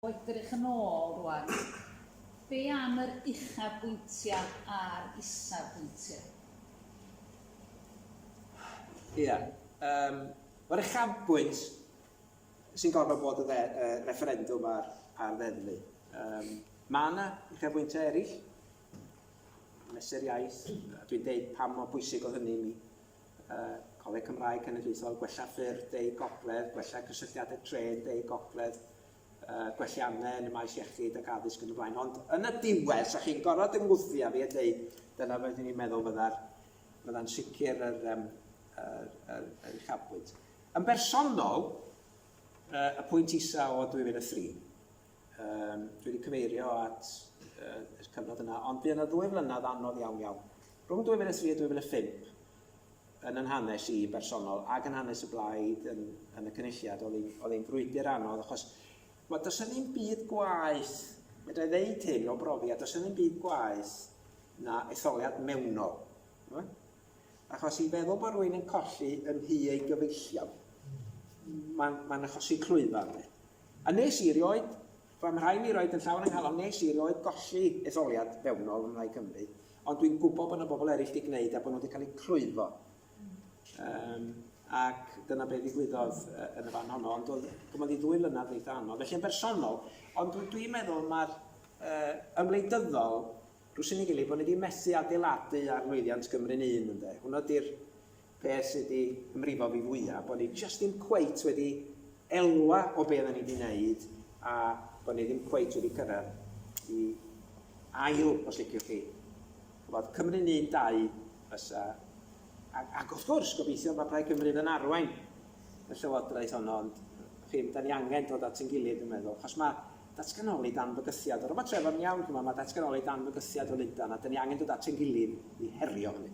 O edrych yn ôl rŵan, be am yr uchafbwyntiau a'r isafbwyntiau? Ia. Yym, mae'r uchafbwynt sy'n gorfod bod y refferendwm a'r ddeddfu. Yym, mae yna uchafbwyntiau eraill, mesur iaith, a dwi'n deud pam mor bwysig oedd hynny i mi. y Coleg Cymraeg Cenedlaethol, gwella ffyrdd deu gogledd, gwella cysylltiadau trên deu gogledd, uh, gwelliannau yn y maes iechyd ac addysg yn y blaen. Ond yn y diwedd, sa chi'n gorfod ymwthio a fi a dweud, dyna fydden ni'n meddwl fydda'n fydda sicr yr, um, yr, yr, yr uchafbwynt. Yn bersonol, uh, y pwynt isa o 2003, Um, dwi wedi cyfeirio at uh, y cyfnod yna, ond bu yna ddwy flynedd anodd iawn iawn. Rhwng 2003 a 2005, yn yn hanes i bersonol ac yn hanes y blaid yn, yn y cynulliad, oedd hi'n frwydr anodd, achos mae does yna ddim byd gwaith, medra i ddeud hyn o brofiad, does yna ddim byd gwaith na etholiad mewnol. Achos i feddwl bod rhywun yn colli yn nhŷ ei gyfeillion, mae'n ma achosi clwyfau ynddi. A nes i rioed, fy mhrai mi roed yn llawn yng nghalon, nes i rioed golli etholiad fewnol yn Mhlaid Cymru, ond dwi'n gwybod bod yna bobl eraill wedi gwneud a bod nhw wedi cael eu clwyfo. Um, ac dyna beth ddigwyddodd yn y fan honno, ond oedd gymodd i ddwy flynedd eitha anodd. Felly yn bersonol, ond dwi'n meddwl mae'r uh, ymwleidyddol Rhos yn ei gilydd bod ni di methu adeiladu ar lwyddiant Gymru'n Un ynde? Hwnna di'r peth sy di ymrifo fi fwya, bod ni jyst ddim cweit wedi elwa o be odda ni di neud a bod ni ddim cweit wedi cyrradd i ail, os liciwch chi. Ch'mod, Cymru'n Un dau fysa ac ac wrth gwrs gobeithio ma' Plaid Cymru yn arwain y Llywodraeth honno ond chi'n, da ni angen dod at ein gilydd dwi'n meddwl achos ma' Datganoli dan fygythiad. Yr ymateb yn iawn, ch'mod, ma' datganoli dan fygythiad o Lundan, a 'dyn ni angen dod at ein gilydd i herio hynny.